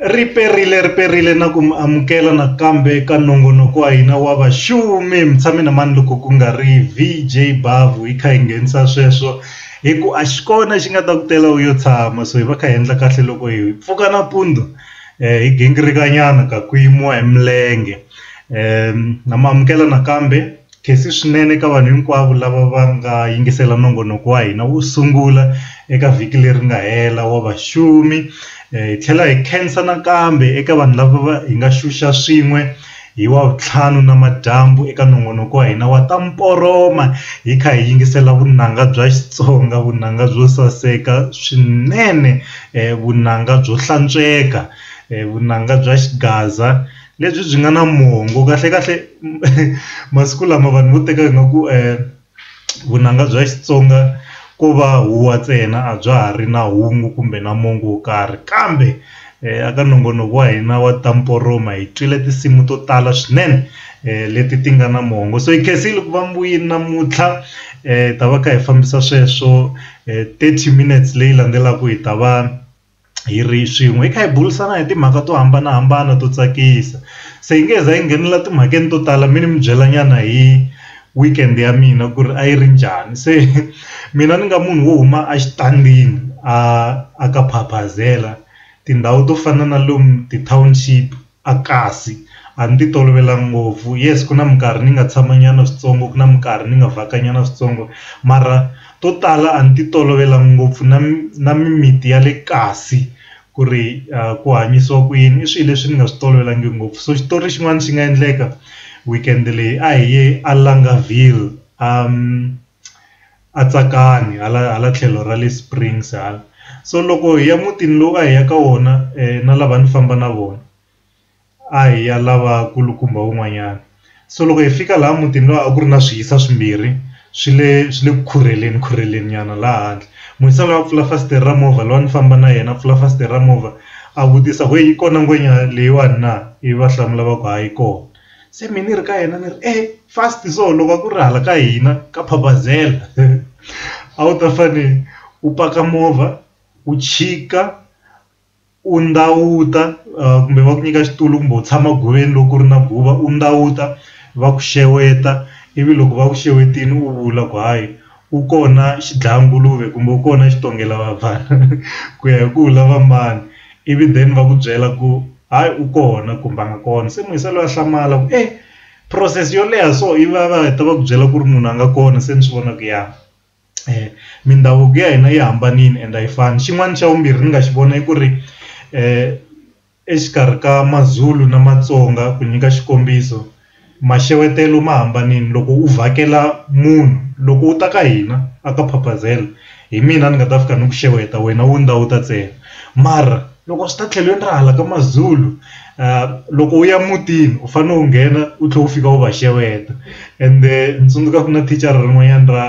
Ri perile ri perile na ku mi amukela nakambe ka nongonoko wa hina wa vaxumi mi tshame na mani loko ku nga ri VJ Bavu hi kha hi nghenisa sweswo hi ku a xi kona xi nga ta ku tela u yo tshama so hi va kha hi endla kahle loko hi pfuka nampundzu eh, hi gingirika nyana ka ku yimiwa hi milenge um na mi amukela nakambe Nkhensi swinene eka vanhu hinkwavo lava va nga yingisela nongonoko wa hina wo sungula eka vhiki leri nga hela wa vaxumi. Hi tlhela hi khensa nakambe eka vanhu lava va hi nga xuxa swin'we hi Wavuntlhanu namadyambu eka nongonoko wa hina wa Ta Mporoma hi kha hi yingisela vunanga bya Xitsonga, vunanga byo saseka swinene, vunanga byo hlantsweka, vunanga bya xigaza. Lebyi byi nga na mongo kahlekahle masiku lama vanhu vo teka nga ku vunanga bya Xitsonga ko va huwa ntsena a bya ha ri na hungu kumbe na mongo wo karhi kambe eka nongonoko wa hina wa ta mporoma hi twile tinsimu to tala swinene leti ti nga na mongo so hi khensile ku va muyeni namuntlha hi ta va kha hi fambisa sweswo thirty minutes leyi landzelaka hi ta va. hi ri swin'we hi kha hi burisana hi timhaka to hambanahambana to tsakisa se hi nge he za hi nghenelela timhakeni to tala mi ni mi byela nyana hi weekend ya mina ku ri a yi ri njhani se mina ni nga munhu wo huma a xitangini a a ka phaphazela tindhawu to fana na lomu ti-township. A kasi, a ni ti tolovelanga ngopfu yes ku na minkarhi ni nga tshama nyana switsongo ku na minkarhi ni nga vhaka nyana switsongo mara to tala a ni ti tolovelanga ngopfu na na mimiti ya le kasi ku ri ku hanyisiwa ku yini i swilo leswi ni nga swi tolovelanga ngopfu so xitori xin'wana xi nga endleka weekend leyi a hi ye a Lungaville . a tsakani hala hala tlhelo ra le Springs hala so loko hi ya mutini lowu a hi ya ka wona na lava ni famba na vona a hi ya lava kulukumba wun'wanyana so loko hi fika laha mutini lowu a ku ri na swi hisa swimbirhi swi le swi le ku khurheleni khurheleni nyana laha handle musi a lava ku pfula fasitere ra movha lowu a ni famba na yena a pfula fasitere ra movha a vutisa ku yi kona ngwenya leyiwani na ivi va hlamula va ku hayi yi kona. se mina ni ri ka yena ni ri e fast so loko va ku ri hala ka hina ka phapazela a wu ta fane u paka movha u chika u ndawuta kumbe va ku nyika xitulu kumbe u tshama goveni loko ku ri na guva u ndawuta va ku xeweta ivi loko va ku xewetini u vula ku hayi Ku kona xidlayanguluve kumbe ku kona xitongela vafana ku ya hi ku u lava mani ivi then va ku byela ku hayi u kona kumbe a nga kona se munhu se loyi a hlamala ku e process yo leha so i va va heta va ku byela ku ri munhu a nga kona se ni swi vona ku ya mindhavuko ya hina yi hambanile ende a yi fani xin'wana xa vumbirhi ni nga xi vona i ku ri . Exikarhi ka Mazulu na Matsonga, ku nyika xikombiso, maxewetelo ma hambanile. Loko u vhakela munhu, loko u ta ka hina a ka Phaphazela hi mina ni nga ta fika ni ku xeweta wena u nda u ta ntsena mara loko swi ta tlhelweni ra hala ka Mazulu loko u ya mutini u fanele u nghena u tlhela u fika u va xeweta ende ni tsundzuka ku na thicara rin'wanyana ra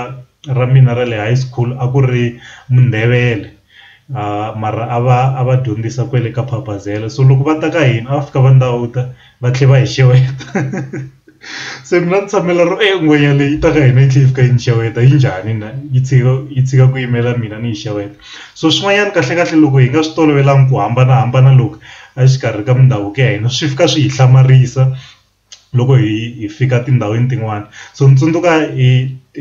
ra mina ra le high school a ku ri Mundebele. aah mara a va a va dyondzisa kwale ka phabazela so loko va ta ka hina a va fika va ndawuta va tlhela va hi xeweta se mina ni tshamela ro e ngwenya leyi ta ka hina yi tlhe yi fika yi ni xeweta yi njhani na yi tshika yi tshika ku yimela mina ni yi xeweta so swin'wanyana kahle kahle loko hi nga swi tolovelanga ku hambanahambana loku exikarhi ka mindhavuko ya hina swi fika swi hi hlamarisa. loko hi hi fika tindhawini tin'wani so ni tsundzuka hi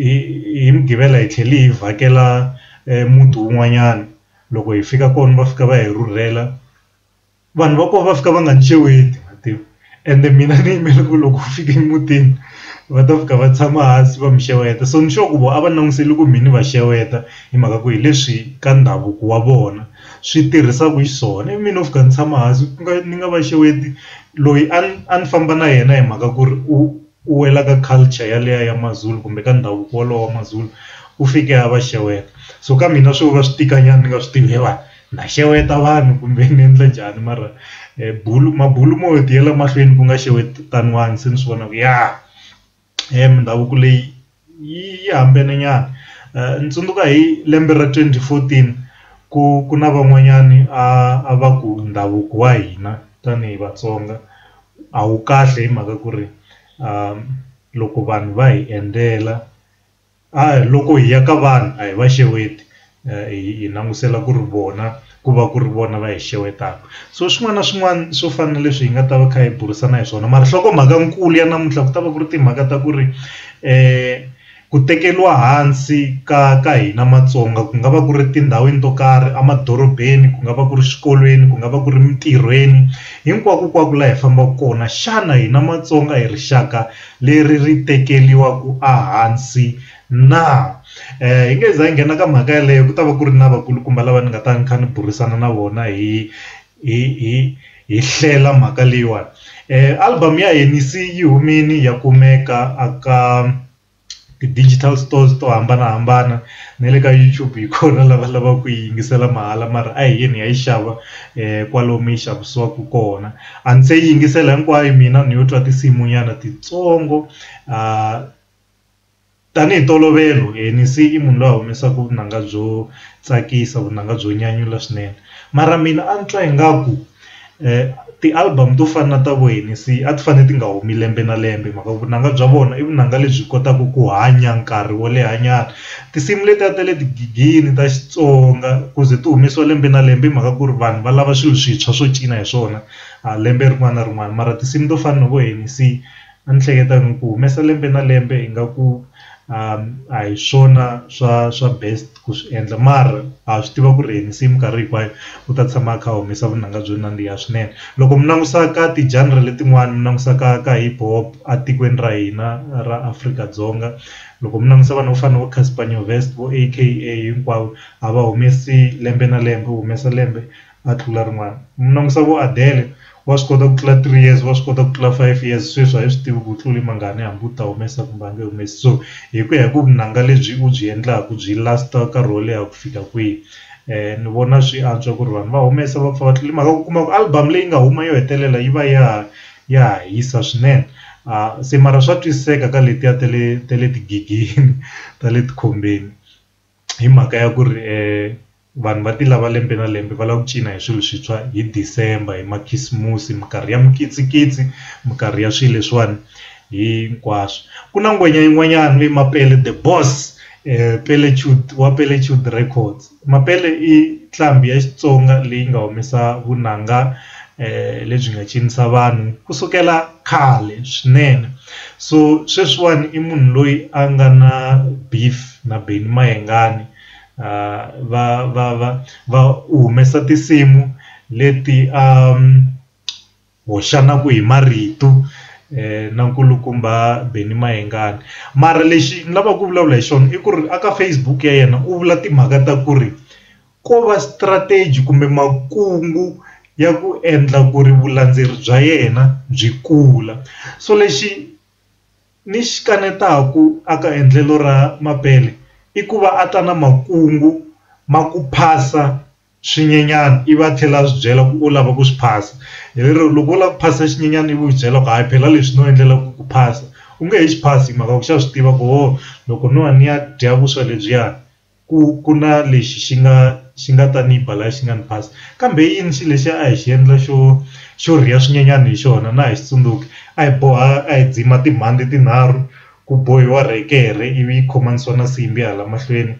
hi hi mugqivela hi tlhele hi vhakela muti wun'wanyana loko hi fika kona va fika va hi rhurhela vanhu va kona va fika va nga ni xeweti ma tiva ende mina ni yimele ku loko ku fika emutini va ta fika va tshama hansi va mi xeweta so ni sure ku vona a va langusele ku mina va xeweta hi mhaka ku hi leswi ka ndhavuko wa vona. swi tirhisaka xiswona ivi mina no fika ndzi tshama hansi ku nga ni nga va xeweta loyi a ni a ni famba na yena hi mhaka ku ri u u wela ka culture yaliya ya maZulu kumbe ka ndhavuko wolowo wa maZulu u fike a va xeweta so ka mina swi vona swi tika nyana ni nga swi tivi evanhu na xeweta vanhu kumbe ni endla njhani mara bulo mabulo mo tiyela mahlweni ku nga xewetaniwani se ni swi vona ku ya. mindhavuko leyi yi yi hambene nyana ni tsundzuka hi lembe ra twenty fourteen ku ku na van'wanyani a va ku ndhavuko wa hina tanihi Vatsonga a wu kahle hi mhaka ku ri loko vanhu va hi endzela. A hi loko hi ya ka vanhu a hi va xeweti hi langutisela ku ri vona ku va ku ri vona va hi xewetaka so swin'wana na swin'wana swo fana na leswi hi nga ta va kha hi burisana hi swona mara nhlokomhaka nkulu ya namuntlha ku ta va ku ri timhaka ta ku ri ku tekeriwa hansi ka ka hina Matsonga ku nga va ku ri etindhawini to karhi emadorobeni ku nga va ku ri swikolweni ku nga va ku ri mintirhweni hinkwako kwako laha hi fambaka kona xana hina Matsonga hi rixaka. leri ri tekeriwa ku a hansi na hi nge za hi nghena ka mhaka yaleyo ku ta va ku ri na vakulukumba lava ni nga ta ni kha ni burisana na vona hi hi hi hi hlela mhaka leyiwani album ya Hennessy yi humile ya kumeka a ka. ti digital stores to hambanahambana na le ka YouTube hi kona lava lava ku yi yingisela mahala mara a hi yini hi ya yi xava kwalomu yi xavisiwaka kona a ndzi se yi yingisela hinkwayo mina ni yo twa tinsimu nyana titsongo a tanihi ntolovelo Hennessy i munhu loyi a humesaka vunanga byo tsakisa vunanga byo nyanyula swinene mara mina a ni twa ingaku ti-album to fana na ta vo Hennessy a ti fanele ti nga humi lembe na lembe hi mhaka ku vunanga bya vona i vunanga lebyi kotaka ku hanya nkarhi wo leha nyana tinsimu letiya ta le tigigini ta Xitsonga ku ze ti humesiwa lembe na lembe hi mhaka ku ri vanhu va lava swilo swintshwa swo cina hi swona lembe rin'wana na rin'wana mara tinsimu to fana na vo Hennessy. A ni hleketa ni ku humesa lembe na lembe ingaku a hi swona swa swa best ku swi endla mara ha swi tiva ku ri hi masimu minkarhi hinkwayo u ta tshama a kha a humesa vunanga byo nandziha swinene loko mi langusa ka ti genre letin'wani mi langusa ka ka hip hop a tikweni ra hina ra Afrika-Dzonga loko mi langusa vanhu vo fana na vo Casper Nyovest vo A_K_A hinkwavo a va humesi lembe na lembe u humesa lembe. a tlula rin'wana mi langusa vo Adele wa swi kota ku tlula three years wa swi kota ku tlula five years sweswi a hi swi tivi ku tlule mangani hambi u ta humesa kumbe a nge humesi so hi ku ya hi ku vunanga lebyi u byi endlaku byi last nkarhi wo leha ku fika kwihi ni vona swi antswa ku ri vanhu va humesa va pfa va tlula hi mhaka ku kuma ku album leyi nga huma yo hetelela yi va ya ya ha hisa swinene a se mara swa twisiseka ka letiya ta le ta le tigigeni ta le tikhombeni. hi mhaka ya ku ri vanhu va ti lava lembe na lembe va lava ku cina hi swilo swintshwa hi December hi makhisimusi minkarhi ya mikitsikitsi minkarhi ya swilo leswiwani hinkwaswo ku na nghoma yin'wanyana leyi Mapele the boss Pele chud wa Pele chud records Mapele i nqambi ya Xitsonga leyi nga humesa vunanga. lebyi nga cinisa vanhu kusukela khale swinene so sweswiwani i munhu loyi a nga na beef na Benny Mayengani va va va va u humesa tinsimu leti a hoxanaku hi marito na nkulukumba Benny Mayengani mara lexi ni lavaka ku vulavula hi xona i ku ri a ka Facebook ya yena u vula timhaka ta ku ri. ko va strategy kumbe makungu ya ku endla ku ri vulandzeri bya yena byi kula so lexi ni xi kanetaku a ka endlelo ra Mapele i ku va a ta na makungu ma ku phasa swinyenyana i va tlhela a swi byela ku u lava ku swi phasa hi lero loko u lava ku phasa xinyenyana ivi u swi byela ku hayi phela leswi no endlela ku ku phasa u nge he xi phasi hi mhaka ku xa swi tiva ku ho loko no ya ni ya dya vuswa lebyiya. ku ku na lexi xi nga xi nga ta ni ba la xi nga ni phasa kambe i yini xilo lexi a hi xi endla xo xo rhiya swinyenyani hi xona na ha xi tsundzuki a hi boha a hi dzima timhandzi tinharhu ku bohiwa rekere ivi yi khomanisiwa na nsimbhi hala mahlweni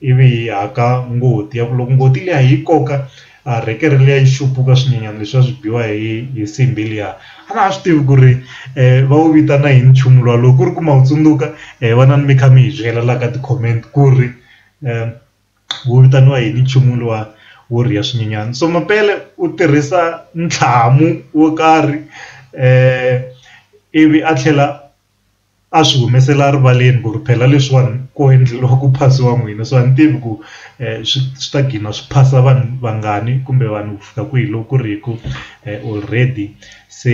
ivi hi haka ngoti ya ku loko ngoti liya hi yi koka. a rhekere liya yi xuphuka swinyenyani leswiya swi biwa hi hi nsimbhi liya a na ha swi tivi ku ri va wu vitana yini nchumu luwa loko ku ri ku ma wu tsundzuka hi wena ni mi kha mi hi byela la ka ti-comment ku ri wu vitaniwa yini nchumu luwa wo rhiya swinyenyani so mapele u tirhisa ntlhamu wo karhi ivi a tlhela. a swi humesela rivaleni ku ri phela leswiwani ku endleriwa ku phasiwa n'wina so a ni tivi ku swi swi ta gcina swi phasa vanhu vangani kumbe vanhu ku fika kwihi loko ku ri hi ku already se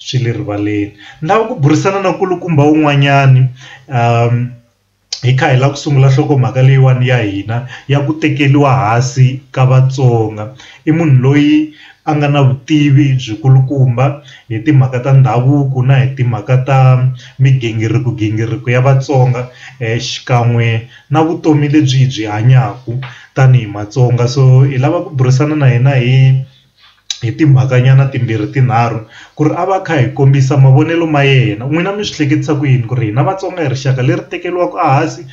swi le rivaleni ni lava ku burisana na nkulukumba wun'wanyani . hi kha hi lava ku sungula nhlokomhaka leyiwani ya hina ya ku tekeriwa hansi ka Vatsonga i munhu loyi a nga na vutivi byi kulukumba hi timhaka ta ndhavuko na hi timhaka ta migingiriko gingiriko ya Vatsonga xikan'we na vutomi lebyi hi byi hanyaka tanihi Matsonga so hi lava ku burisana na yena hi. hi timhaka nyana timbirhi tinharhu ku ri a va kha hi kombisa mavonelo ma yena n'wina mi swi hleketisa ku yini ku ri hina Vatsonga hi rixaka leri tekeriwaka a hansi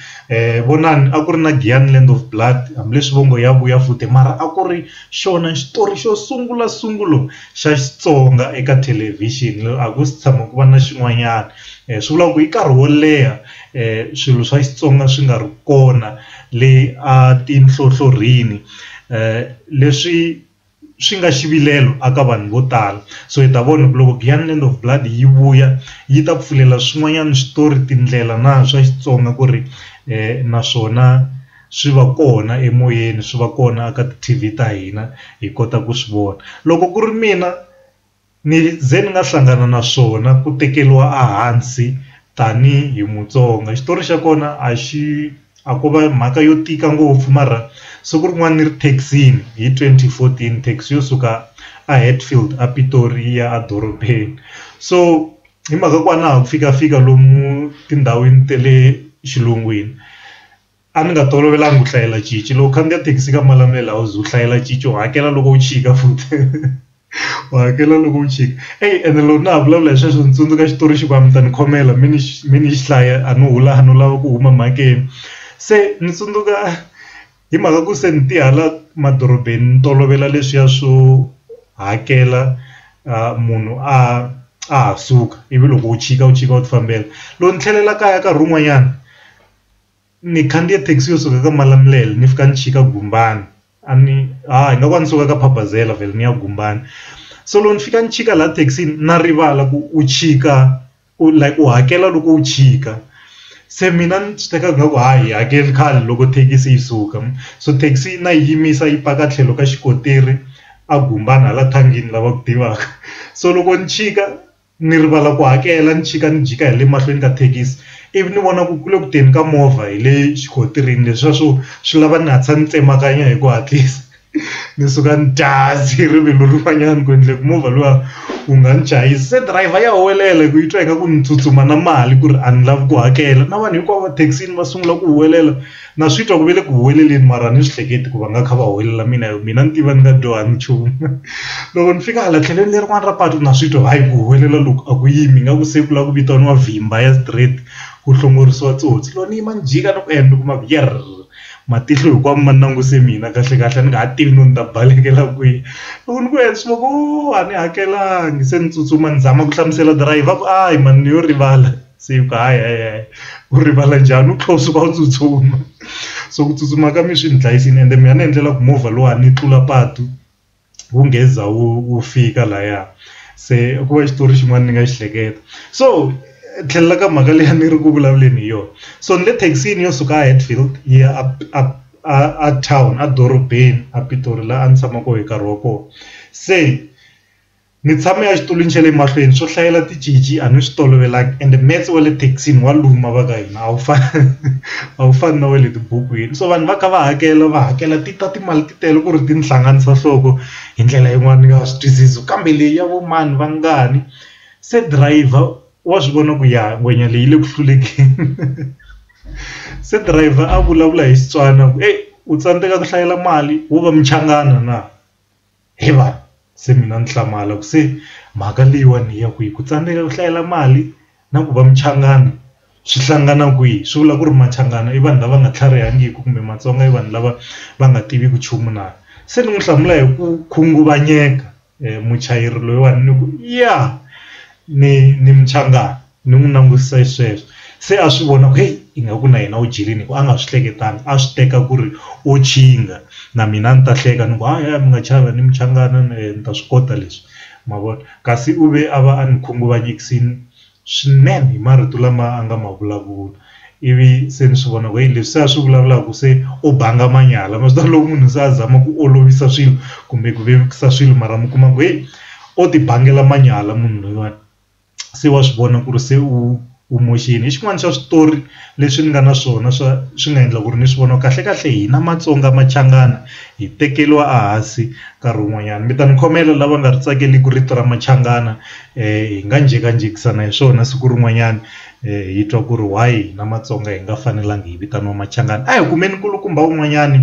vonani a ku ri na Giyani land of blood hambileswi va ngo ya vuya futhi mara a ku ri xona xitori xo sungula sungula xa Xitsonga eka thelevhixini a ku se tshama ku va na xin'wanyana swi vulaka ku hi nkarhi wo leha swilo swa Xitsonga swi nga ri kona le a tinhlohlorhini. leswi swi nga xivilelo a ka vanhu vo tala so hi ta vona ku loko Giyani Land of Blood yi vuya yi ta pfulela swin'wanyana switori tindlela na swa Xitsonga ku ri naswona swi va kona emoyeni swi va kona a ka ti-T_V ta hina hi kota ku swi vona loko ku ri mina. Ni ze ni nga hlangana na swona ku tekeriwa a hansi tanihi Mutsonga xitori xa kona a xi a ko va mhaka yo tika ngopfu mara siku rin'wana ni ri thekisini hi twenty fourteen thekisi yo suka a Hatfield a Pitori yi ya a dorobeni so hi mhaka ku a na ha ku fikafika lomu tindhawini ta le xilungwini. a ni nga tolovelanga ku hlayela cinci loko u khandziya thekisi ka Malamulele a wu ze u hlayela cinci u hakela loko u chika futhi u hakela loko u chika eyi ene loko na ha vulavula hi sweswo ni tsundzuka xitori xi ku a mi ta ni khomela mi ni mi ni xi hlaya a no hula a no lava ku huma mhakeni se ni tsundzuka hi mhaka ku se ni ti hala madorobeni ni tolovela leswiya swo hakela munhu a a ha suka ivi loko u chika u chika u ti fambela loko ni tlhelela kaya nkarhi wun'wanyana. ni khandziye thekisi yo suka ka Malamulele ni fika ni chika Gumbani a ni ha hi nga ku a ni suka ka Phabazela vhele ni ya Gumbani so loko ni fika ni chika laha thekisini na rivala ku u chika u like u hakela loko u chika se mina ni swi teka nga ku ha yi hakeli khale loko thekisi yi suka so thekisi yi na yi yimisa yi paka tlhelo ka xikontiri a Gumbani hala thangini lava ku tivaka so loko ni chika. ni rivala ku hakela ni chika ni jika hi le mahlweni ka thekisi ivi ni vona ku ku le ku teni ka movha hi le xikotirini leswiya swo swi lava ni hatlisa ni tsemakanya hi ku hatlisa ni suka ni dase rivilo rin'wanyana ku endle ku movha luwa wu nga ni chayisi se driver ya huwelela hi ku yi twa ingaku ni tsutsuma na mali ku ri a ni lavi ku hakela na vanhu hinkwavo thekisini va sungula ku huwelela. Na swi twa ku ve le ku huweleleni mara a ni swi hleketi ku va nga kha va huwelela mina hi ku mina ni tiva ni nga dyohanga nchumu loko ni fika hala tlhelweni lerin'wani ra patu na swi twa hayi ku huwelela loku a ku yimi nga ku se ku lava ku vitaniwa vhimba ya straight ku hlongorisiwa tsotsi loko ni yima ni jika ni ku ni kuma ku yerr matihlo hinkwawo ma languse mina kahle kahle a ni nga ha tivi no ni ta balekela kwihi loko ni ku yini swi va ku a ni hakelanga se ni tsutsuma ni zama ku hlamusela dirayivha a ku a hi mani ni yo rivala. se ku hayi hayi hayi u rivala njhani u tlhela u suka u tsutsuma so ku tsutsuma ka mina swi ni dlayisile ende mina ni endlela ku movha lowa ni tlula patu wu ngeza wu wu fika laya se ku va xitori xin'wana ni nga xi hleketa so tlhelela ka mhaka leyi a ni ri ku vulavuleni hi yona so ni le thekisini yo suka a Hatfield yi ya a a a a town a dorobeni a Pitori laha a ni tshama kona hi nkarhi wa kona se. Ni tshame a xitulwini xa le mahlweni swo hlayela ticinci a ni swi tolovelanga ende metse wa le thekisini wa luma va ka hina a wu fani a wu fani na wa le tibukwini so vanhu va kha va hakela va hakela ti ta timali ti tele ku ri ti ni hlanganisa nhloko hi ndlela yin'wani ni nga swi twisisi kambe leyi ya vo mani va ngani se driver wa swi vona ku ya ngwenya leyi le ku hlulekeni se driver a vulavula hi Xitswana ku eyi u tsandzeka ku hlayela mali wo va muchangana na. He vanhu se mina ni hlamala ku se mhaka leyiwani ya ku yi ku tsandzeka ku hlayela mali na ku va muchangana swi hlangana kwihi swi vula ku ri machangani i vanhu lava nga tlharihangiki kumbe matsonga i vanhu lava va nga tiviki nchumu na se ni n'wi hlamula hi ku khunguvanyeka muchayeri loyiwani ni ku ya ni ni muchangana. Ni n'wi langutisa hi sweswo se a swi vona ku heyi ingaku na yena u dyelini hi ku a nga swi hleketanga a swi teka ku ri o nkingha na mina a ni ta hleka ni ku ha yaya mi nga chavi a ni muchangana ni ta swi kota leswi ma vona kasi u ve a va a ni khunguvanyekisile swinene hi marito lama a nga ma vulavula ivi se ni swi vona ku heyi leswi se a swi vulavulaka se u banga manyala ma swi tiva loko munhu se a zama ku olovisa swilo kumbe ku vevukisa swilo mara mi kuma ku heyi o ti bangela manyala munhu loyiwani. se wa swi vona ku ri se u u moxini hi xin'wana xa switori leswi ni nga na swona swa swi nga endla ku ri ni swi vona kahle kahle hina Matsonga Machangana hi tekeriwa a hansi nkarhi wun'wanyana mi ta ni khomela lava nga ri tsakeleki rito ra Machangana hi nga njhekanjhekisana hi swona siku rin'wanyana hi twa ku ri why hina Matsonga hi nga fanelanga hi vitaniwa Machangana a hi kumeni nkulukumba wun'wanyani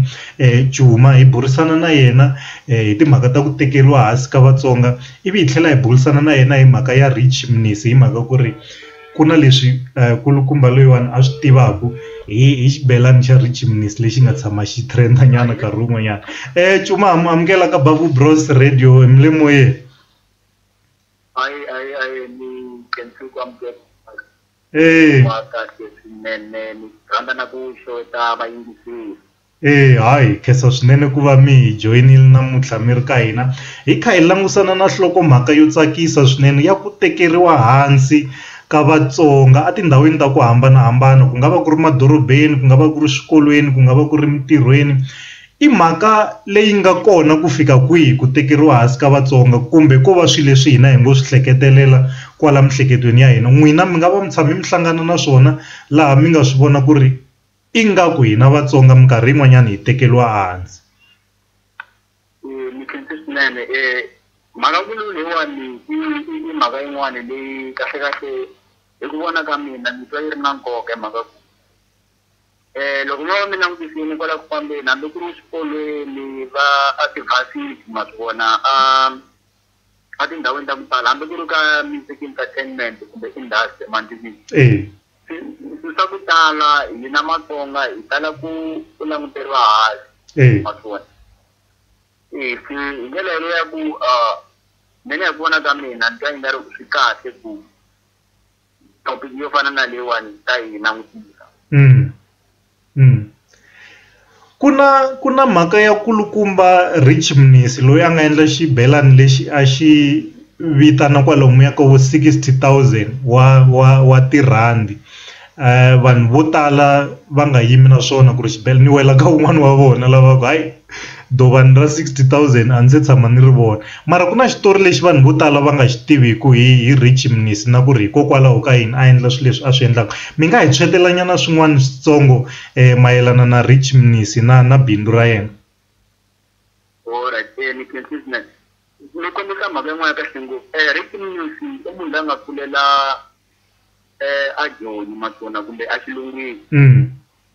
Cuma hi burisana na yena hi timhaka ta ku tekeriwa hansi ka Vatsonga. ivi hi tlhela hi burisana na yena hi mhaka ya Rich Mnisi hi mhaka ku ri ku na leswi kulukumba loyiwani a swi tivaka hi hi xibelani xa Rich Mnisi lexi nga tshama xi trend nyana nkarhi wun'wanyana eh Cuma ha mu amukela ka Bavu Bros Radio mi le moyeni hayi hayi hayi ni khensi ku amukela eh wa kahle swinene ni rhandza na ku xeweta vayingiseli Eya hayi hi khensa swinene ku va mi hi joyinile namuntlha mi ri ka hina hi kha hi langutisana na nhlokomhaka yo tsakisa swinene ya ku tekeriwa hansi ka Vatsonga etindhawini ta ku hambanahambana ku nga va ku ri madorobeni ku nga va ku ri swikolweni ku nga va ku ri emitirhweni i mhaka leyi nga kona ku fika kwihi ku tekeriwa hansi ka Vatsonga kumbe ko va swilo leswi hina hi ngo swi hleketelela kwala miehleketweni ya hina n'wina mi nga va mi tshame mi hlangana na swona laha mi nga swi vona ku ri. Ingaku hina Vatsonga minkarhi yin'wanyana hi tekeriwa ehansi. Mukhensile swinene mhaka vululu leyiwani i mhaka yin'wani leyi kahlekahle hi ku vona ka mina ni twa yi ri na nkoka hi mhaka ku loko mo va mi langutisile kwala ku fambeni hambi ku ri swikolweni va a ti ma swi vona a. etindhawini ta ku tala hambi ku ri ka music entertainment kumbe industry emantimbini swilo swa ku tala hina matsonga hi tala ku ku languteriwa hansi matsonga se hi ndlela yaleyo ya ku mina hi ku vona ka mina ni twa i nga ri swi kahle ku topic yo fana na leyiwani hi ta yi langutisa mm. Mm. ku na ku na mhaka ya kulukumba rich mnisi loyi a nga endla xibelani lexi a xi vitana kwalomuya ka vo 60000 wa wa wa tirhandi um vanhu vo tala va nga yimi na swona ku ri xibelani ni wela ka un'wana wa vona lava ku hayi Dovani ra sixty thousand a ni se tshama ni ri vona mara ku na xitori lexi vanhu vo tala va nga xi tiviku hi hi Richie Mnisi na ku ri hikokwalaho ka yini a endla swilo leswi a swi endlaka mi nga hi swekela nyana swin'wana switsongo mayelana na Richie Mnisi na na bindzu ra yena. ni kombisa mhaka yin'wana kahle ngopfu Richie Mnisi i munhu la nga kulela a Joni Majoni kumbe a xilungwini.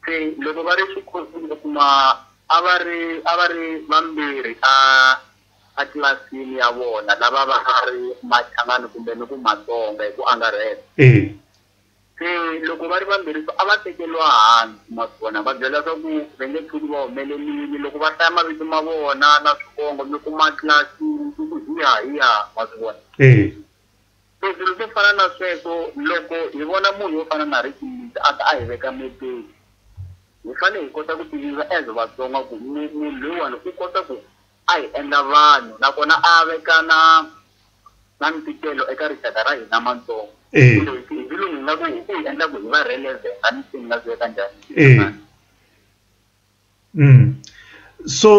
Se loko va ri xikhosini u kuma a va ri a va ri vambirhi a a tlilasini ya vona lava va nga ri machangani kumbe ni ku matsonga hi ku angarhela eya se loko va ri vambirhi so a va tekeriwa hansi ma swi vona va byela swa ku va nge tshuki va humelelile loko va hlaya mavito ma vona na swivongo mi kuma tlilasi ku ku hiya hiya ma swi vona eya. Leswilo swo fana na sweswo loko hi vona munhu wo fana na Ricky Mbhiza a ta a hi veka mepeni hi fane hi kota ku tinyungubyisa as Vatsonga ku munhu loyiwani u kota ku a hi endla vanhu nakona a veka na na ntikelo eka rixaka ra hina matsonga kumbe hi hi xilungu hi nga ku u hi endla ku hi va relevant a ni se ni nga swi veka njhani. so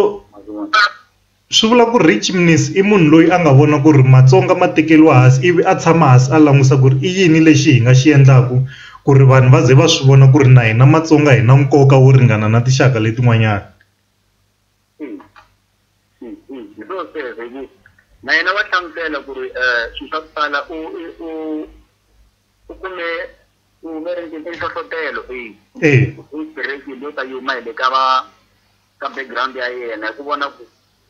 swi vula ku rich miss i munhu loyi a nga vona ku ri matsonga ma tekeriwa hansi ivi a tshama hansi a langusa ku ri i yini lexi hi nga xi endlaku ku ri vanhu va ze va swi vona ku ri na hina matsonga hi na nkoka wo ringana na tinxaka letin'wanyana na yena wa hlamusela ku ri swilo swa ku tala u . u kume ku ve ri i nhlohlotelo eyi eyi i break leyi ta yuma hi le ka va ka background ya yena hi ku vona ku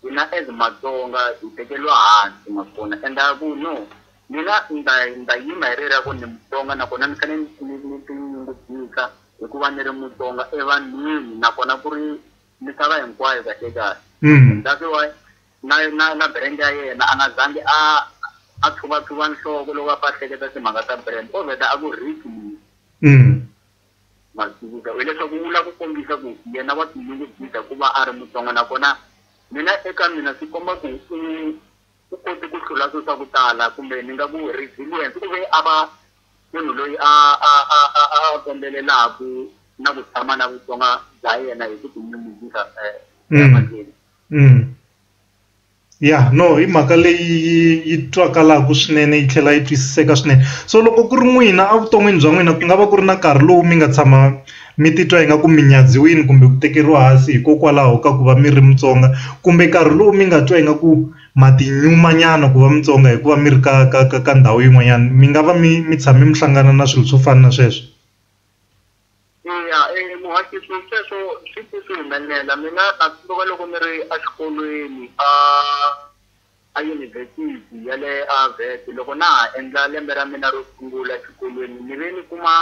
hina as matsonga hi tekeriwa hansi ma swi vona and a ku no mina ni ta ni ta yima hi rera ku ni mutsonga nakona ni fanele ni ni tinyungubyisa hi ku va ni ri mutsonga evanhwini nakona ku ri misava hinkwayo kahle kahle that's why Na, na, na brand ya yena, a nga zangi a, a tshuvatsuva nhloko loko a pfa a hleketa timhaka ta brand. Ko vheta a ku Rick mina. Mm. Ma swi tivisa. Hileswaku u lava ku kombisa ku yena wa tinyungubyisa hi ku va a ri Mutsonga nakona mina eka mina swi komba ku u, u kote ku hlula swilo swa ku tala kumbe ni nga ku resilience. U ve a va munhu loyi a, a, a, a, a a kombelelaku na ku tshama na Vutsonga bya yena hi ku tinyungubyisa, eh, emahlweni. ya no hi mhaka leyi yi twakalaka swinene yi tlhela yi twisiseka swinene so loko ku ri n'wina evuton'wini bya n'wina ku nga va ku ri na nkarhi lowu mi nga tshama mi titwa ingaku mi nyadziwile kumbe ku tekeriwa hansi hikokwalaho ka ku va mi ri Mutsonga kumbe nkarhi lowu mi nga twa ingaku ma ti nyuma nyana ku va Mutsonga hikuva mi ri ka ka ka ka ndhawu yin'wanyana mi nga va mi mi tshame mi hlangana na swilo swo fana na sweswo. Eya e muhaxisi sweswo swi pfe swi humelela mina a swi tiva loko ni ri a xikolweni a a yunivhesiti ya le a Wits loko na ha endla lembe ra mina ro sungula xikolweni ni ve ni kuma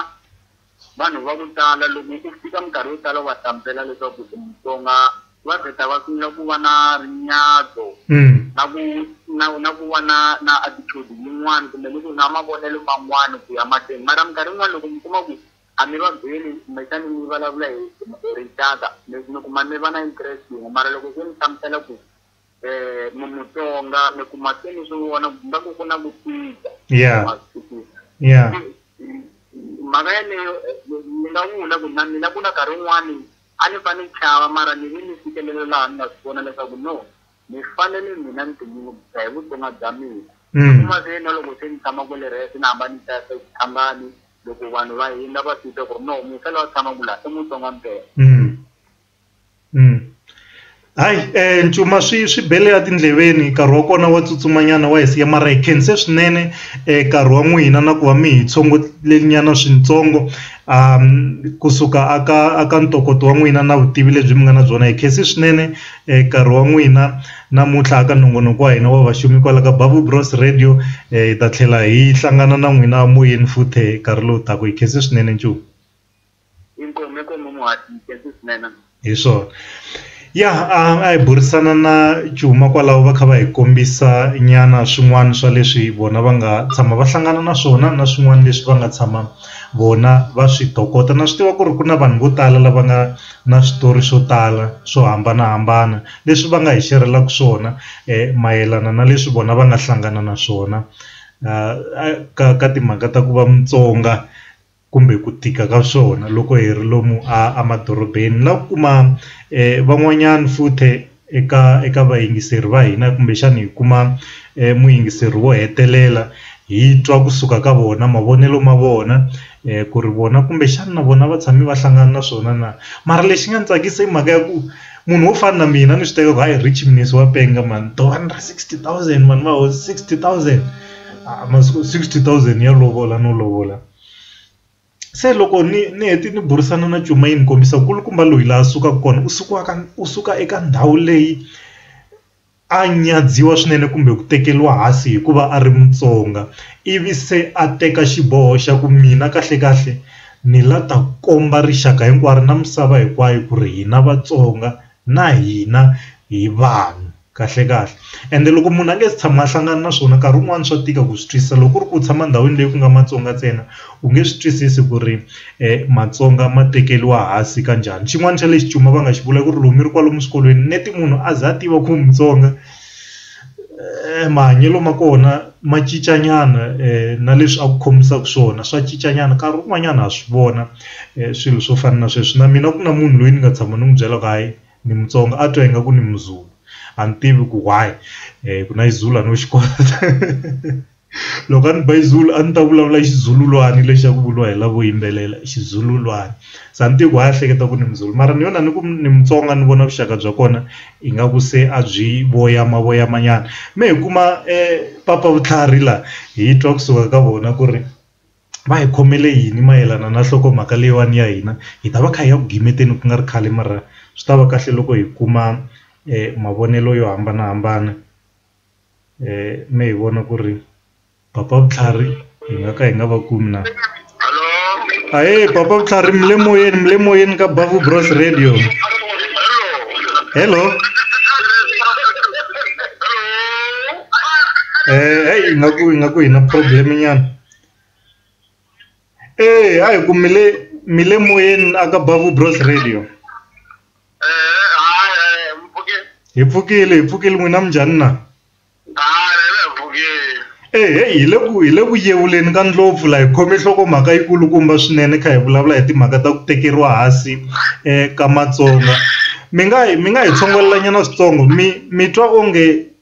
vanhu va ku tala loko u fika minkarhi yo tala u va hlamusela leswaku u Mutsonga. va vheta va sungula ku va na rinyadzo Mm. na ku na na ku va na na attitude yin'wana kumbe ni ku na mavonelo man'wana ku ya mahlweni mara minkarhi yin'wana loko mi kuma ku a mi va byeli kumbexani mi vulavula hi hi rixaka mi mi kuma mi va na interest yin'we mara loko se mi hlamusela ku um mi mutsonga mi kuma se ni swi vona ku nga ku ku na ku tika Yeah. Ma swi twisisa? Yeah. mhaka yaleyo eh, ni nga vula ku na mina ku na nkarhi wun'wani A ni fa ni chava, mara ni ve ni fikelele laha ni nga swi vona leswaku no, ni fanele mina ni tinyungubyisa hi vutsonga bya mina. Ni kuma se na loko se ni tshama kwale rhe, se ni hamba ni ta exitshangani, loko vanhu va hindza va swi twa ku ri no, muntshwa loyi a tshamaka laha i mutsonga mpela. Hayi eh ncuma swi swi bele a tindleveni nkarhi wa kona wa tsutsumanyana wa hi siya mara hi khense swinene eh nkarhi wa n'wina na ku va mi hi tshongolele nyana swintsongo um kusuka a ka a ka ntokoto wa n'wina na vutivi lebyi mi nga na byona hi khense swinene eh nkarhi wa n'wina namuntlha aka nongonoko wa hina wa vaxumi kwala ka Bavu Bros Radio eh hi ta tlhela hi hlangana na n'wina moyeni futhe nkarhi lowu taka hi khense swinene ncuma. Inkomu inkomu muhati nkhensi swinene. Hi swona ya a hi burisana na Cuma kwalaho va kha va hi kombisa nyana swin'wana swa leswi vona va nga tshama va hlangana na swona na swin'wana leswi va nga tshama vona va swi tokota na swi tiva ku ri ku na vanhu vo tala lava nga na switori swo tala swo hambanahambana leswi va nga hi xerhelaka swona mayelana na leswi vona va nga hlangana na swona ka ka timhaka ta ku va Mutsonga. kumbe ku tika ka swona loko hi ri lomu a emadorobeni ni la ku kuma van'wanyana futhi eka eka vayingiseri va hina kumbexana hi kuma muyingiseri wo hetelela hi twa kusuka ka vona mavonelo ma vona ku ri vona kumbexana na vona va tshame va hlangana na swona na mara lexi nga ni tsakisa i mhaka ya ku munhu wo fana na mina ni swi teka ku hayi Rich Mnisi wa penga mhani two hundred sixty thousand vanhu va sixty thousand masiku sixty thousand ya lovola no lovola. se loko ni ni hete ni burisana na cuma yi ni kombisa ku kulukumba loyi laha sukaka kona u suka ka u suka eka ndhawu leyi a nyadziwa swinene kumbe ku tekeriwa hansi hikuva a ri Mutsonga ivi se a teka xiboho xa ku mina kahle kahle ni la ta komba rixaka hinkwaro na misava hinkwayo ku ri hina Vatsonga na hina hi vanhu kahlekahle ende loko munhu a nge se tshama a hlangana na swona nkarhi wun'wani swa tika ku swi twisisa loko ku ri ku u tshama ndhawini leyi ku nga Matsonga ntsena u nge swi twisisi ku ri Matsonga ma tekeriwa hansi ka njhani xin'wana xa lexi cuma va nga xi vula ku ri loko mi ri kwalomu swikolweni neti munhu a za a tiva ku u Mutsonga. E mahanyelo ma kona ma cinca nyana na leswi a ku khomisaka swona swa cinca nyana nkarhi wun'wanyana ha swi vona swilo swo fana na sweswi na mina ku na munhu loyi ni nga tshama ni n'wi byela ku hayi ni Mutsonga a twa ingaku ni Muzulu a ni tivi ku why ku na Xizulu a no xi kota. loko a ri ba xizulu a ndzi ta vulavula xizululwana lexi xa ku vuriwa hi lavo yimbelela xizululwana se a ni tivi ku a hi hleketa ku ni muzulu mara ni yona ni ku ni mutsonga ni vona vuxaka bya kona ingaku se a byi voyama voyama nyana me hi kuma papa vutlhari la hi twa kusuka ka vona ku ri va hi khomele yini mayelana na nhlokomhaka leyiwani ya hina hi ta va kha hi ya ku gimeteni ku nga ri khale mara swi ta va kahle loko hi kuma mavonelo yo hambanahambana. me hi vona ku ri papa vutlhari hi nga ka hi nga va kumi na ahe papa vutlhari mi le moyeni mi le moyeni ka bavu bros radio hello eh hey ingaku ingaku hi na problem nyana Eya a hi ku mi le mi le moyeni a ka Bavu Bros Radio. Eh, hayi hayi mpfukile. Hi pfukile hi pfukile n'wina minjhani na? Hayi hi le mpfukile. Eh hey hi le ku hi le ku yevuleni ka ndlopfu la hi khome nhlokomhaka yi kulukumba swinene kha hi vulavula hi timhaka ta ku tekeriwa hansi eh ka Matsonga. Mi nga hi mi nga hi tshongolela nyana switsongo mi mi twa onge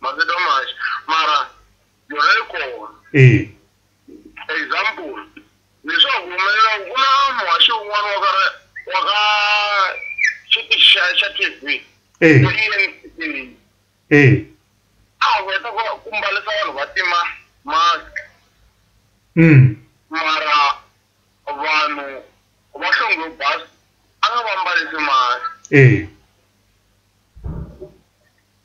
mavito manji mara yona yi kona e example leswaku humelela ku na muhaxi un'wana wa ka wa ka xitichi xa xa TV e e a heta ku ku mbalisa vanhu va tima mask mm mara vanhu va hlonge bas a nga va mbalisi mask e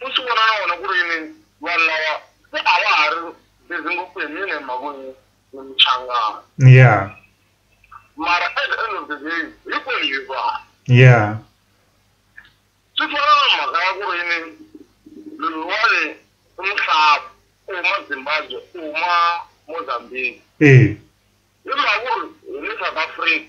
u swi vona na wona ku ri yini vanhu lava se a va ha ri busy ngopfu hi mina hi mhaka ni ni muchangana ya mara at the end of the day hinkwenu hi vanhu ya swi fana na mhaka ya ku ri yini loyiwani i muhlavi u huma zimbabwe u huma mozambique e hi mhaka ku ri hi le south africa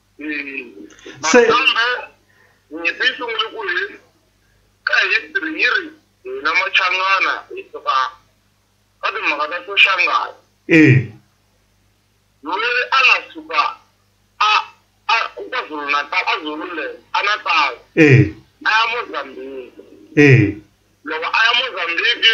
Se kambe nyimpi yi sungule ku hi ka history yi ri hina machangana hi suka ka timhaka ta soshangana eh loyi a nga suka a a KwaZulu Natal a Zululand a Natal eh a ya Mozambique eh loko a ya Mozambique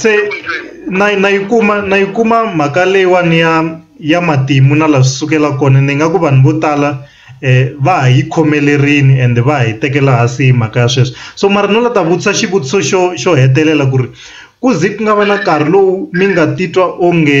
se na yi na yi kuma na yi kuma mhaka leyiwani ya ya matimu na laha swi sukela kona ni nga ku vanhu vo tala va ha yi khomelerini ende va ha yi tekela hansi hi mhaka ya sweswo so mara no la ta vutisa xivutiso xo xo hetelela ku ri ku ze ku nga va na nkarhi lowu mi nga titwa onge.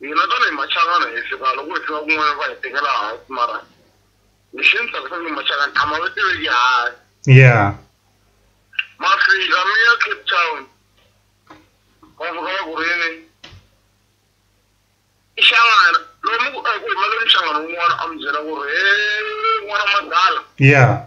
hina tanihi machangana hi fika loko hi fika kun'wana va hi tekela hansi mara lexi ni tsakisa ni machangana a ma va tiveki hansi yeah ma fika mi ya cape town va fika va ku ri yini i xangana lomu ku eku hi maleni xangana wun'wana a mi byela ku ri he n'wana madala yeah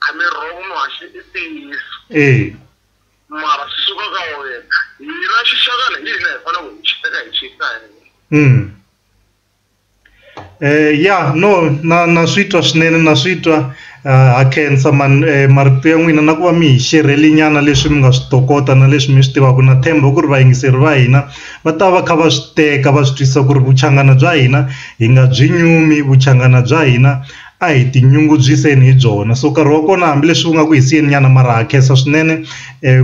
A ni wrong muhaxi i ntiyiso. Eya. Mara swi suka ka wena. Hina xixakana hi hina hi fanele hi xi teka hi xi yisa hehla. Umm. Eh ya no na na swi twa swinene na swi twa ha khensa man marito ya n'wina na ku va mi hi xerhele nyana leswi mi nga swi tokota na leswi mi swi tivaka na tshemba ku ri vayingiseri va hina va ta va kha va swi teka va swi twisisa ku ri vuchangana bya hina hi nga byi nyumi vuchangana bya hina a hi tinyungubyiseni hi byona so nkarhi wa kona hambileswi wu nga ku hi siyeni nyana mara ha khensa swinene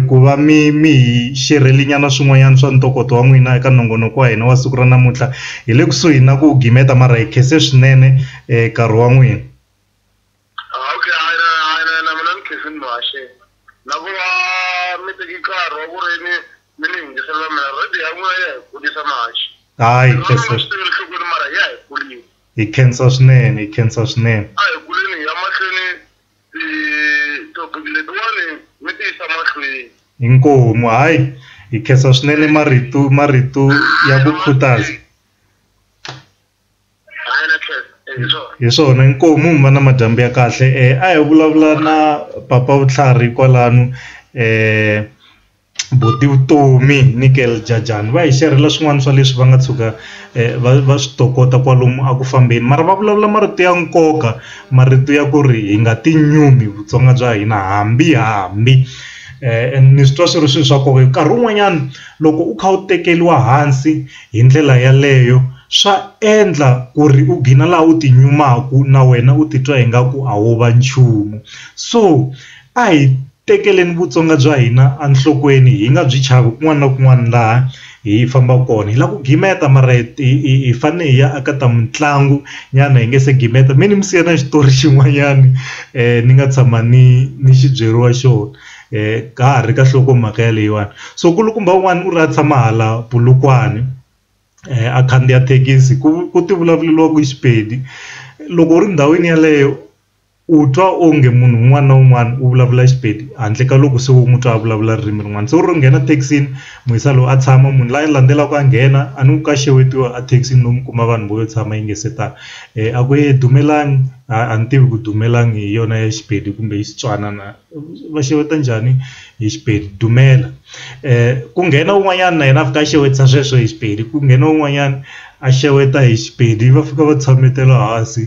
ku va mi mi hi xerhele nyana swin'wanyana swa ntokoto wa n'wina eka nongonoko wa hina wa siku ra namuntlha hi le kusuhi na ku gimeta mara hi khense swinene nkarhi wa n'wina hayi . Hi khensa swinene, hi khensa swinene. A hi kuleni hi ya mahlweni ti-topic letiwani mi ti yisa mahlweni. Inkomu, hayi hi khensa swinene marito marito ya ku khutaza. Hi swona inkomu mi va na madyambu ya kahle a hi vulavula na papa vutlhari kwalano . vo ti vutomi ni Girl Jah Jah va hi xerhela swin'wana swa leswi va nga tshuka va va swi tokota kwalomu a ku fambeni mara va vulavula marito ya nkoka marito ya ku ri hi nga ti nyumi Vutsonga bya hina hambi hambi ni swi twa swi ri swilo swa nkoka hi ku nkarhi wun'wanyana loko u kha u tekeriwa hansi hi ndlela yaleyo swa endla ku ri u gina laha u ti nyumaka na wena u titwa ingaku a wo va nchumu so. A hi tekeleni vutsonga bya hina enhlokweni hi nga byi chavi kun'wana na kun'wana laha hi fambaka kona hi lava ku gimeta mara hi hi hi fane hi ya aka ta mitlangu nyana hi nga se gimeta mi ni mi siya na xitori xin'wanyani ni nga tshama ni ni xi byeriwa xona ka ha ri ka nhlokomhaka ya leyiwani so nkulukumba wun'wani u ri a tshama hala Polokwane a khandziya thekisi ku ku ti vulavuriwa ku Xipedi loko u ri ndhawini yeleyo. U twa onge munhu un'wana na un'wana u vulavula Xipedi handle ka loko se u n'wi twa a vulavula ririmi rin'wana se u ro nghena thekisini mu yisa loyi a tshama munhu la landzelaka a nghena a ni ku ka xewetiwa a thekisini lomu kuma vanhu vo yo tshama yi nga se tala a ku yini dumelani a ni tivi ku dumelani hi yona ya Xipedi kumbe i Xitswana na va xeweta njhani hi Xipedi dumela ku nghena un'wanyana na yena a fika a xewetisa sweswo hi Xipedi ku nghena un'wanyana a xeweta hi Xipedi va fika va tshametela hansi.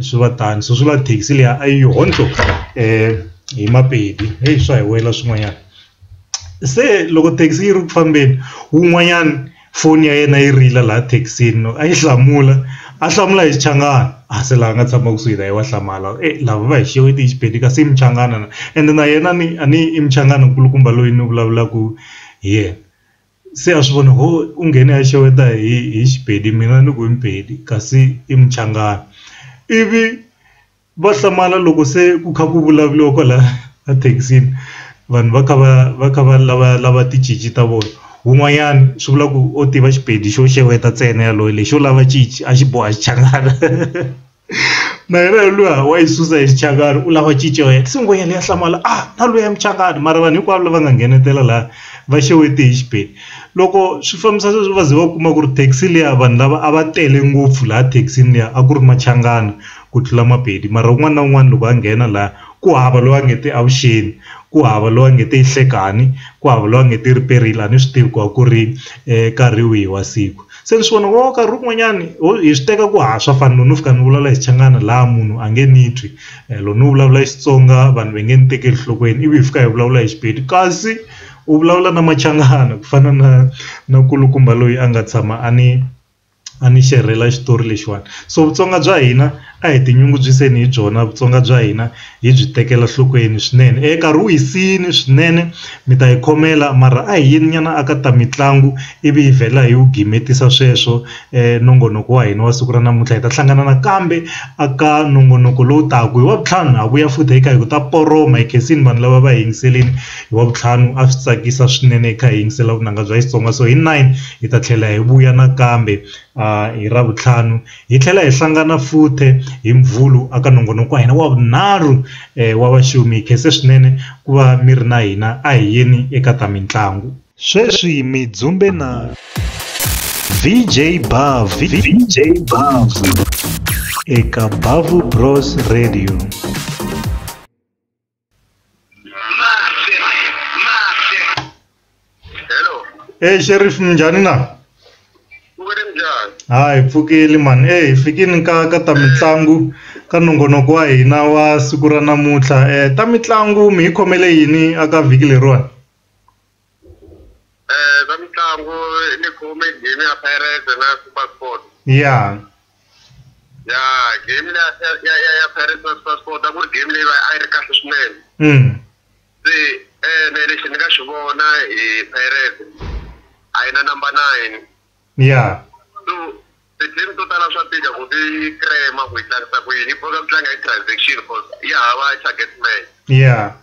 swi va tano so swi lava thekisi liya a yi honhlo hi mapedi heyi swa hi wela swin'wanyana se loko thekisi yi ri ku fambeni wun'wanyana foni ya yena yi rila laha thekisini loko a yi hlamula a hlamula hi xichangani a se la nga tshama kusuhi na ye wa hlamala e lava va hi xeweta hi xipedi kasi i muchangana na ende na yena ni a ni i muchangana nkulukumba loyi ni vulavulaku hi yena. se a swi vona ho u nghene a xeweta hi hi xipedi mina ni ku i mpedi kasi i muchangana ivi va hlamala loko se ku kha ku vulavuriwa kwala ethekisini vanhu va kha va va kha va lava lava ticinci ta vona wun'wanyana swi vula ku o tiva xipedi xo xeweta ntsena yaloye lexo lava cinci a xi boha xichangani. na yena luya wa yi susa hi xichangani u lava cinco yena se ngwenyana leyi ya hlamala a ah, na luya muchangani mara vanhu hinkwavo lava nga nghenetela laha va xewete hi xibeni loko swi fambisa sweswi va ze va kuma ku ri taxi liya vanhu lava a va tele ngopfu laha thekisini liya a ku ri machangana ku tlula mapedi mara un'wana na un'wana loko a nghena laha ku hava loyi a nge te avuxeni ku hava loyi a nge te yi hlekani ku hava loyi a nge te riperile a ni swi tivi ku a ku ri um nkarhi wihi wa siku. Se ni swi vona ku nkarhi wun'wanyani ho hi swi teka ku haha swa fana loko no fika ni vulavula hi Xichangana laha munhu a nge ni twi loko no vulavula hi Xitsonga vanhu va nge ni tekeli enhlokweni ivi hi fika hi vulavula hi Xipedi kasi u vulavula na Machangana ku fana na na nkulukumba loyi a nga tshama a ni a ni xerhela xitori lexiwani so Vutsonga bya hina. a hi tinyungubyiseni hi byona Vutsonga bya hina hi byi tekela nhlokweni swinene e nkarhi wu hisini swinene mi ta yi khomela mara a hi yeni nyana a ka ta mitlangu ivi hi vhela hi wu gimetisa sweswo nongonoko wa hina wa siku ra namuntlha hi ta hlangana nakambe a ka nongonoko lowu taka hi wa vutlhanu ha vuya futhi hi kha hi ku ta poroma hi khensini vanhu lava va hi yingiseleni hi wa vutlhanu a swi tsakisa swinene hi kha hi yingisela vunanga bya Xitsonga so hi nine hi ta tlhela hi vuya nakambe hi ra vutlhanu Hi tlhela hi hlangana futhe hi Mvhulu aka nongonoko wa hina wa vunharhu wa vaxumi. Hi khense swinene ku va mi ri na hina. A hi yeni eka ta mintlangu. Sweswi mi dzumbe na VJ Bavhu, VJ Bavhu eka Bavhu Bros Radio. e sheriff minjhani na ha hi pfukile mani e hi fikini ka ka ta mitlangu ka nongonoko wa hina wa siku ra namuntlha um ta mitlangu mi hi khomele yini aka vhiki leriwani Eh, swa mitlangu ni khume game ya Pirates na SuperSport. ya Ya game leya ya ya ya, ya Pirates na SuperSport a ku ri game leyi va a yi ri kahle swinene. mm. Se ene lexi ni nga xi vona hi Pirates a yi na number nine. ya So ti-team to tala swa tika ku ti crema ku yi tlangisa ku yini yi boka ku tlanga hi transaction cause yi hava target man. ya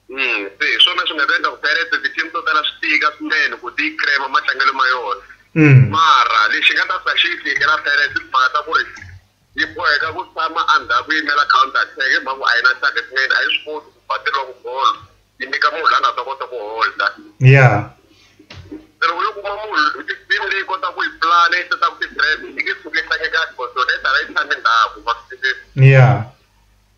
Mm, se hi swona swi nga ta endla ku Pirates ti-team to tala swi tika swinene ku ti crema matlangelo ma yona Mm. mara lexi nga ta sa xi yi tikela Pirates i timhaka ta ku ri yi boheka ku tshama endzhaku yi yimela counter attack hi mhaka ku a yi na target man a yi swi koti ku ba tilongo ball yi nyika munhu la nga ta kota ku holda Yeah. se loko yo kuma munhu team leyi kota ku yi plan yi seta ku ti-trap yi nge suki yi tlange kahle because yona yi tala yi tshame ndhaku ma swi twisisa Yeah.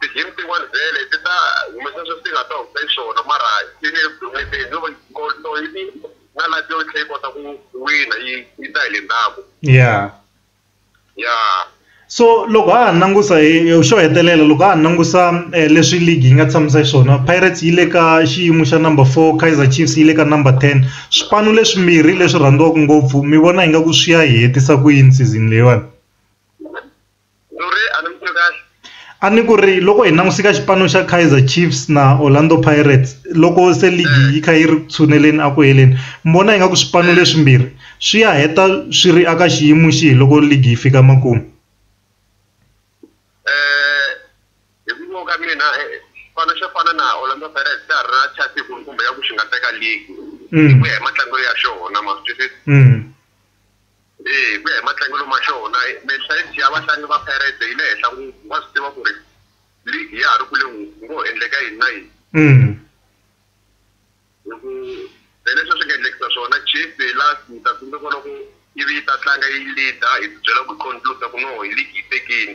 Ti-game tin'wana vhele ti ta humesa sweswi ti nga ta humesa xiswona mara yi le ku humeseni no va so yi ti na la yo yi tlhe yi kota ku wina yi yi ta hi le ndzhaku ya ya so loko ha ha langusa hi xo hetelela loko ha ha langusa leswi league yi nga tshamisa xiswona Pirates yi le ka xiyimo xa number four Kaizer Chiefs yi le ka number ten swipanu leswimbirhi leswi rhandziwaka ngopfu mi vona ingaku swi ya hi hetisa ku yini season leyiwani. a ni ku ri loko hi languseka xipano xa Kaizer Chiefs na Orlando Pirates loko se ligi eh. yi kha yi ri tshuneleni a ku heleni mi vona ingaku swipano eh. leswimbirhi swi ya heta swi ri aka xiyimo xihi loko ligi yi fika makumu eh, hi ku vona ka mina xipano xo fana na Orlando Pirates xa ha ri na chance kumbe ya ku xi nga teka ligi mm. hi ku ya hi matlangelo ya xona ma swi twisisa mm. Hi ku ya hi matlangelo ma xona, mentality ya vatlangi va Pirates yi le henhla ngopfu. Va swi tiva ku ri league ya ha ri kule ngopfu, ku ngo ho endleka yini na yini. Hi ku hi leswi swi nga endlekisa swona Chiefs hi last, ni ta tsundzuka loko yi ve yi ta tlanga yi lead-a hi ti byela ku hi conclude-a ku no league yi tekini.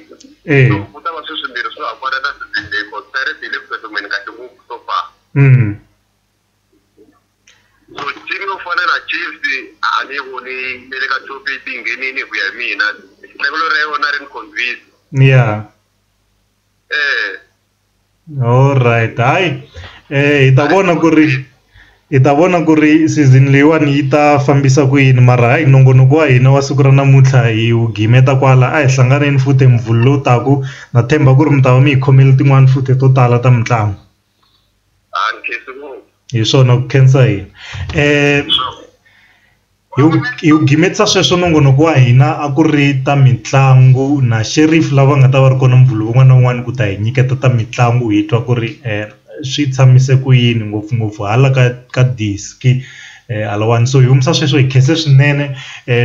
So ku ta va sweswimbirhi swo hambana na season leyi cause Pirates yi le ku tsutsumeni kahle ngopfu so far. Vutivi byo fana na Chiefs a ni voni ne le ka top eight yi nghenini hi ku ya hi mina tlangelo ra yona a ri ni confuse ya eh alright hayi eh hi ta vona ku ri hi ta vona ku ri season leyiwani yi ta fambisa ku yini mara hayi nongonoko wa hina wa siku ra namuntlha hi wu gimeta kwala a hi hlanganeni futhi hi muvhulu lowu taka na tshemba ku ri mi ta va mi hi khomele tin'wani futhi to tala ta mitlangu. a ni khensi ngopfu hi swona ku khensa yini um hi wu hi wu gimetisa sweswo nongonoko wa hina a ku ri ta mitlangu na Sheriff lava nga ta va ri kona Muvhulu wun'wana na wun'wana ku ta hi nyiketa ta mitlangu hi twa ku ri swi tshamise ku yini ngopfungopfu hala ka ka diski. Halawani so hi humesa sweswo hi khense swinene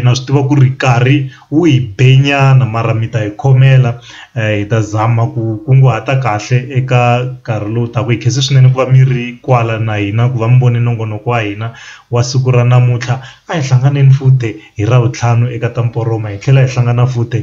na swi tiva ku ri nkarhi wu hi be nyana mara mi ta hi khomela hi ta zama ku kunguhata kahle eka nkarhi lowu taka hi khense swinene ku va mi ri kwala na hina ku va mi vone nongonoko wa hina wa siku ra namuntlha a hi hlanganile futhi hi ravuntlhanu eka ta hi tlhela hi hlangana futhi.